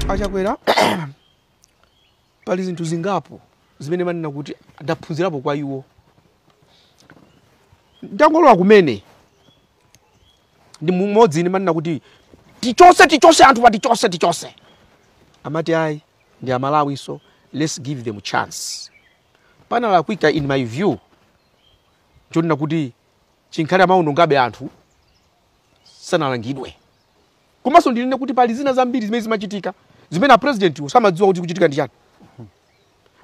achakwera pali zinthu zingapo zimene ndimanena kuti ndaphunzirapo kwa iwo atangolowa kumene ndi mmodzi ine ndimanena kuti tichotse tichotse anthu pa tichotse tichotse amati ayi ndi amalawinso let's give them chance panalakwika in my view chonena kuti chikhale amaonongabe anthu sanalangidwe komanso ndinene kuti pali zina zambiri zimene zimachitika zimene a president-wo samadziwa kuti kukuchitika ndi chani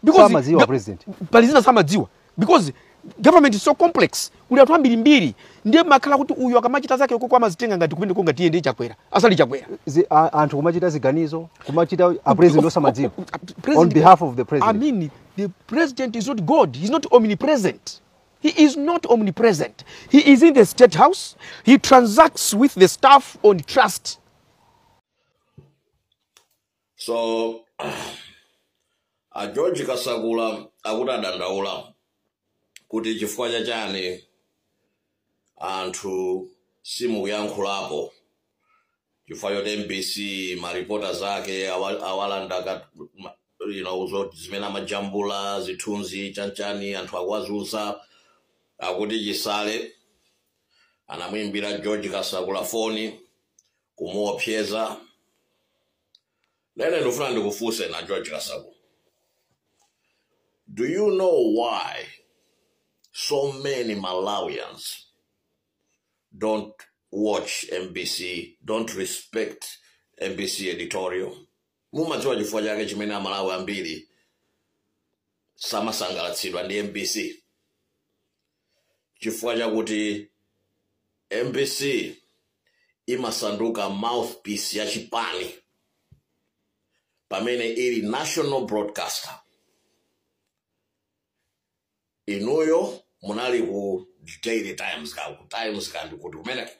Because Samadziwa ga- president. pali zina samadziwa because government is so complex kuli anthu ambirimbiri ndiye makhala kuti uyu akamachita zake ukoko amazitenga ngati kumeneko ngati iye ndi chakwera asali chakwera Zi- a- anthu kumachita ziganizo kumachita a president osamadziwa President- on behalf of the president I mean, the president is not God. He's not omnipresent. He is not omnipresent. He is in the state house. He transacts with the staff on trust. so a george kasakula akudandaula kuti chifukwa chachani anthu simukuyankhulapo chifukwa choti mbc ma reporters ake awa- awalanda ka- ma- you know, zo- zimene amajambula zithunzi chanchani anthu akuwazunza akuti chisale anamuimbira george kasakula foni kumuopseza ine ndikufuna ndikufunseni a george kasakula do you know why so many malawians don't watch mbc don't respect mbc editorial mumadziwa chifukwa chake chimene amalawi ambiri samasangalatsidwa ndi mbc chifukwa chakuti mbc imasanduka mouthpiece ya chipani pamene ili national broadcaster inuyo munali ku daily times ka ku times ka ndikuti kumeneko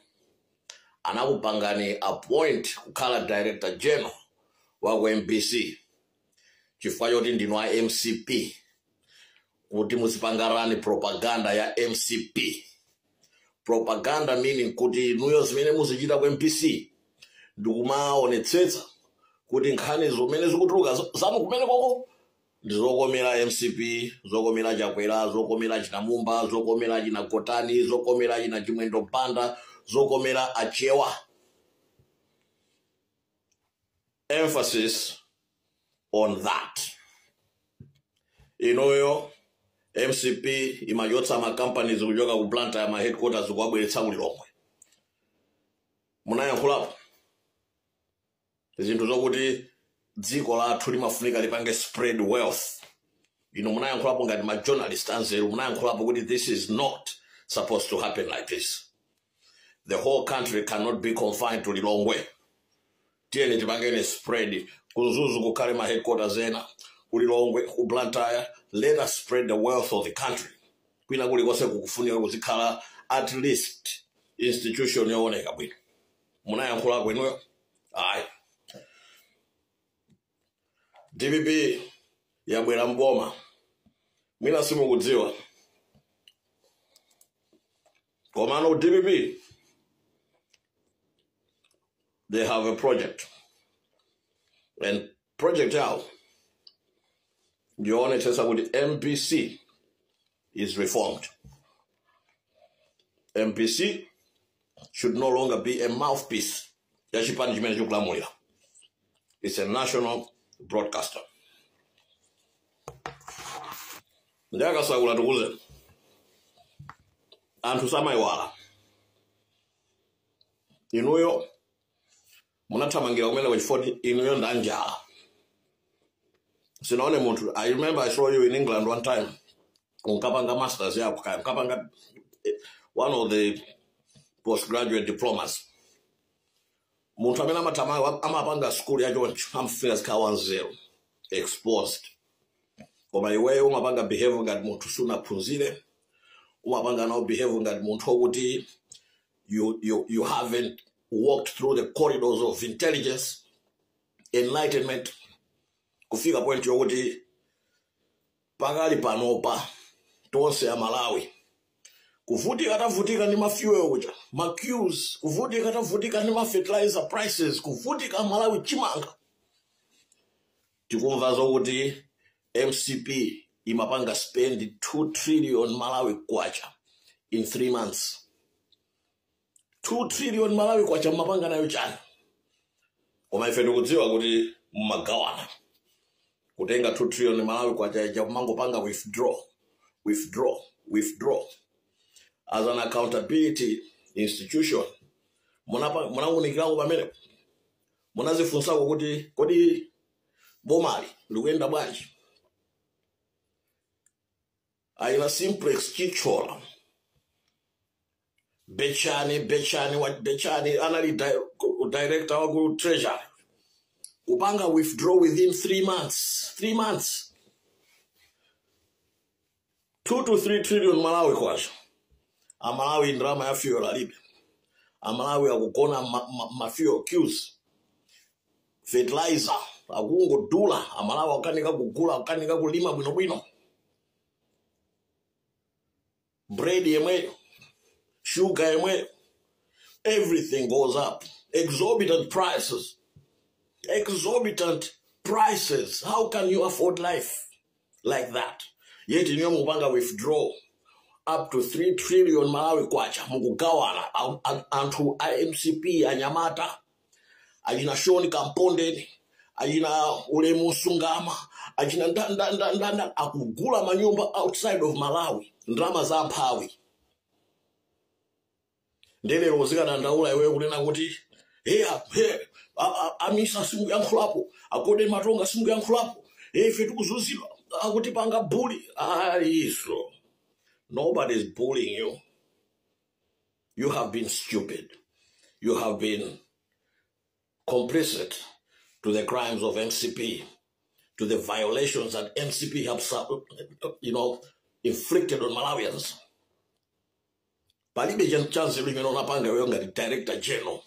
anakupangani appoint kukhala director general wa ku mbc chifukwa choti ndinu a mcp kuti muzipanga run propaganda ya mcp propaganda meaning kuti inuyo zimene muzichita ku mbc ndikumaonetsetsa kuti nkhani zimene zikutuluka za- zanu kumenekoko ndi zokomera mcp zokomera chakwera zokomera achina mumba zokomera achina gotani zokomera achina chimwendo banda zokomera achewa emphasis on that inuyo mcp imachotsa makampanies kuchoka ku blantyre maheadquarters kuwabweretsa ku lilongwe munayankhulapo zinthu zokuti dziko lathu limafunika lipange spread wealth inu munayankhulapo ngati ma journalist anzeru munayankhulapo kuti this is not supposed to happen like this the whole country cannot be confined to lilongwe tiyeni tipangeni spread ku mzuzu kukhale ma headquarters ena kulilongwe ku blantyre let us spread the wealth of the country kwina kulikonse kukufunika kuzikhala at least institution yooneka bwino munayankhulako inuyo ayi dpp yabwera mboma mwina simukudziwa komano dpp they have a project and Project yawo ndiyoonetsetsa kuti MBC is reformed. MBC should no longer be a mouthpiece ya chipani chimene chikulamulira. It's a national broadcaster. Ndi takasegula tikuuze anthu samayiwala inuyo munathamangira kumeneko chifoti inuyo ndi anjala sinaone munthu i remember i saw you in england one time unkapanga masters yako kaya unkapanga eh, one of the postgraduate diplomas munthu amene amathamanga amapanga skulu yachoncho amafunika azikhala wanzeru exposed koma iweyo umapanga behave ngati munthu sunaphunzire umapanga nawo behave ngati munthu okuti you, you, you haven't walked through the corridors of intelligence, enlightenment, kufika point yokuti pakali panopa tonse amalawi kuvutika tavutika ndi mafuel uja maqueues kuvutika tavutika ndi mafertilizer prices kuvutika malawi chimanga tikumva zokuti mcp imapanga spend 2 trillion malawi kwacha in 3 months 2 trillion malawi kwacha mumapanga nayo chani koma ife tikudziwa kuti mumagawana kutenga 2 trillion malawi kwacha ija kumangopanga withdraw withdraw withdraw as an accountability institution munapa- munaunikirako pamene munazifunsako kuti kodi bomali likuyenda bwanji achina simplex chithyola betchani betchani wa betchani anali director wa ku treasury kupanga withdraw within three months three months 2 to 3 trillion malawi kwacha amalawi ndalama ya fuel alibe amalawi akugona ma, ma, ma fuel queues fertilizer akungodula amalawi akukanika kugula akukanika kulima bwinobwino bread yemweyo sugar yemweyo everything goes up exorbitant prices exorbitant prices how can you afford life like that yet inuyo mukupanga withdraw up to 3 trillion malawi kwacha mukugawana a- a- anthu a mcp anyamata achina sean kampondeni achina ulemu msungama achina nda- nda- nda- nda- nda- akugula manyumba outside of malawi ndalama za mphawi ndiye lero uzikadandaula iweyo kunena kuti "Hey, a- hey, a- a- a misa simukuyankhulapo a golden matonga simukuyankhulapo hey, ife tikuzunzidwa akutipanga bully ayi so nobody is bullying you you have been stupid you have been complicit to the crimes of mcp to the violations that mcp have su- you know inflicted on malawians palibe cha- chanzeru chimene unapanga iweyo ngati director general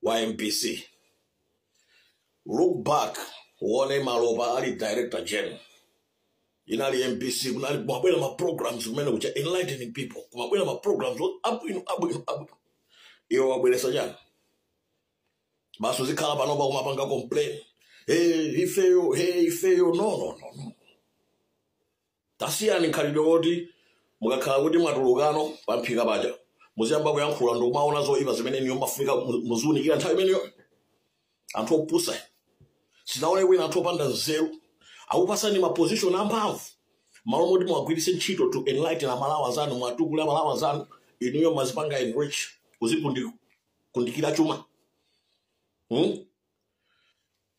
wa mbc look back uone malopa ali director general inali mbc kunali kumabwera ma programs kumene kucha enlightening people kumabwera ma programs o- abwino abwino abwino iweyo wabweretsa chani basi uzikhala panopa kumapanga complain hey ifeyo hey ifeyo no no no no tasiyani mkhalidwe woti mukakhala kuti mwatulukano pamphika paja muziyamba kuyankhula ndikumaona zoipa zimene inuyo mumafunika mu- muziunikira nthawi imeneyo anthu opusa sinaone wina anthu opanda nzeru akupasani mapozishoni amphamvu malo moti muwagwiritse ntchito to enlighten amalawi anzanu muwatukule amalawi anzanu inuyo mumazipanga enrich kuzikundikira chuma hmm?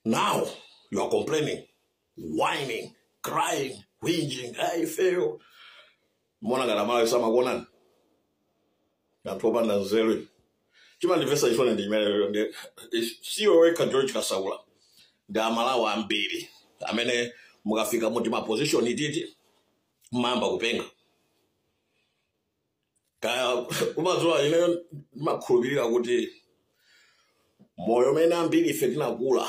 Now you are complaining, whining, crying, whinging, hey ifeyo. Mumaona ngati amalawi samakuonani anthu opanda nzeru. Chimandimvetsa chisoni ndi chimenecho si iwe wekha George Kasakula ndi amalawi ambiri amene mukafika mu timaposition ititi mmayamba kupenga. kaya kumadziwa ineyo ndimakhulupirira kuti moyo umene ambiri ife tinakula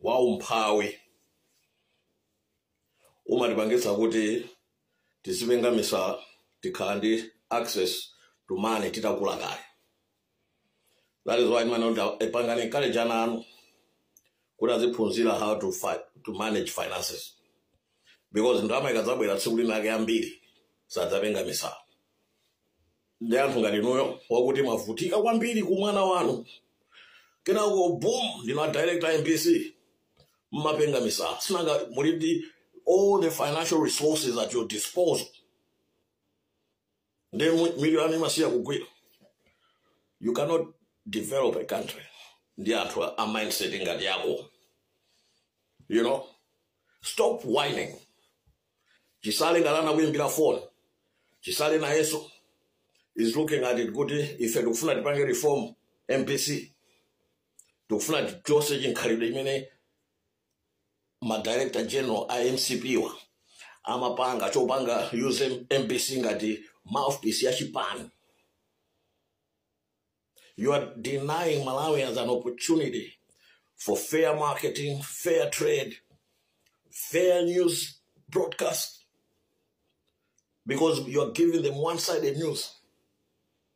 wa umphawi umatipangitsa kuti tizipenga misala tikakhala ndi access to money titakula kale that is why mumati apangeni encourage ana anu kuti aziphunzira how to, fi to manage finances because ndalama ikadzabwera tsiku linalake ambiri sadzapenga misala ndi anthu ngati inuyo wakuti mwavutika kwambiri kuumwana wanu kenako boom ndinu a director a mbc mmapenga misala sinanga muli ndi all the financial resources at your disposal ndi mitu yanu imasiya kugwira you cannot develop a country ndi anthu a a mindset ngati yako you know stop whining chisale ngati anakuyimbira phone chisale nayeso is looking at it kuti ife tikufuna tipange reform mbc tikufuna tichose chikhalidwe chimene ma director general a mcp wa amapanga chopanga use mbc ngati mouthpiece ya chipani you are denying malawians an opportunity for fair marketing fair trade fair news broadcast because you are giving them one-sided news